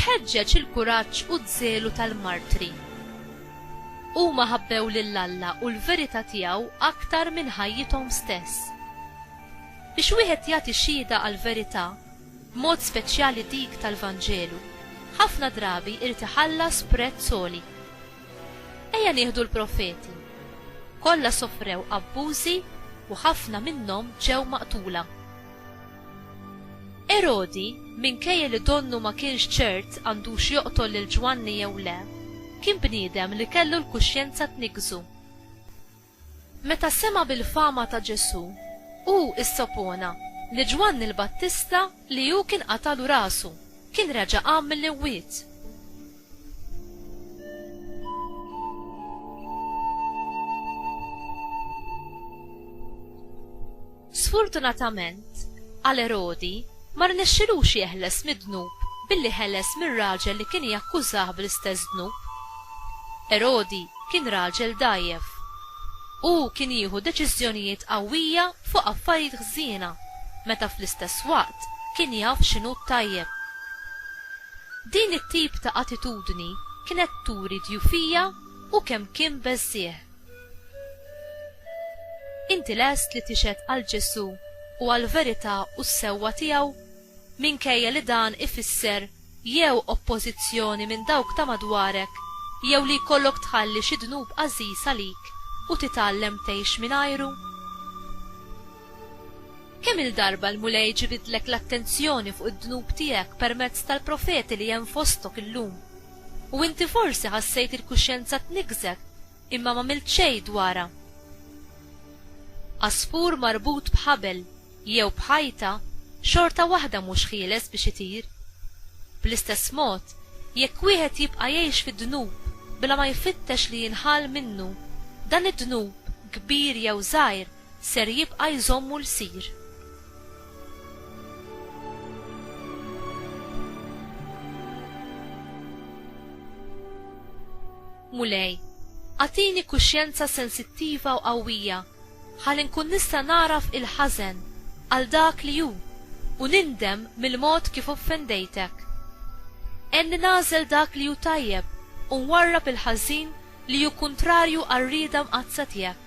X'ħeġġeġ il-kuraġġ u ż-żelu tal-martri? Huma ħabbew lil Alla u l-verità tiegħu aktar minn ħajjithom stess. Biex wieħed jagħti xhieda għall-verità, b'mod speċjali dik tal-Vanġelu, ħafna drabi jrid iħallas prezz għoli. Ejja nieħdu l-profeti. Kollha sofrew abbużi u ħafna minnhom ġew maqtula. Erodi, minkejja li donnu ma kienx ċert għandux joqtol lil Ġwanni jew le, kien bniedem li kellu l-kuxjenza tniggżu. Meta sema' bil-fama ta' Ġesù, hu issopona li Ġwanni l-Battista li hu kien qatalu rasu, kien reġa' qam mill-imwiet. Sfortunatament għal Erodi, ma rnexxilux jeħles mid-dnub billi ħeles mir-raġel li kien jakkużah bl-istess dnub. Erodi kien raġel dgħajjef. Hu kien jieħu deċiżjonijiet qawwija fuq affarijiet ħżiena meta fl-istess waqt kien jaf x'inhu t-tajjeb. Din it-tip ta' attitudni kienet turi dgħufija u kemm kien beżżiegħ. Inti lest li tixhed għal Ġesù u għall-verità u s-sewwa tiegħu, minkejja li dan ifisser jew oppożizzjoni minn dawk ta' madwarek jew li jkollok tħalli xi dnub għażiż għalik u titgħallem tgħix mingħajru? Kemm-il darba l-Mulej ġibidlek l-attenzjoni fuq id-dnub tiegħek permezz tal-profeti li hemm fostok illum? U inti forsi ħassejt il-kuxjenza tniggżek imma m'għamilt xejn dwarha. Għasfur marbut b'ħabel jew b'ħajta xorta waħda mhux ħieles biex itir. Bl-istess mod, jekk wieħed jibqa' jgħix fid-dnub bla ma jfittex li jinħall minnu, dan id-dnub, kbir jew żgħir, ser jibqa' jżommu lsir. Mulej, agħtini kuxjenza sensittiva u qawwija ħalli nkun nista' nagħraf il-ħażen għal dak li hu u nindem mill-mod kif offendejtek. Għenni nagħżel dak li hu tajjeb u nwarrab il-ħażin li hu kuntrarju għar-rieda mqaddsa tiegħek.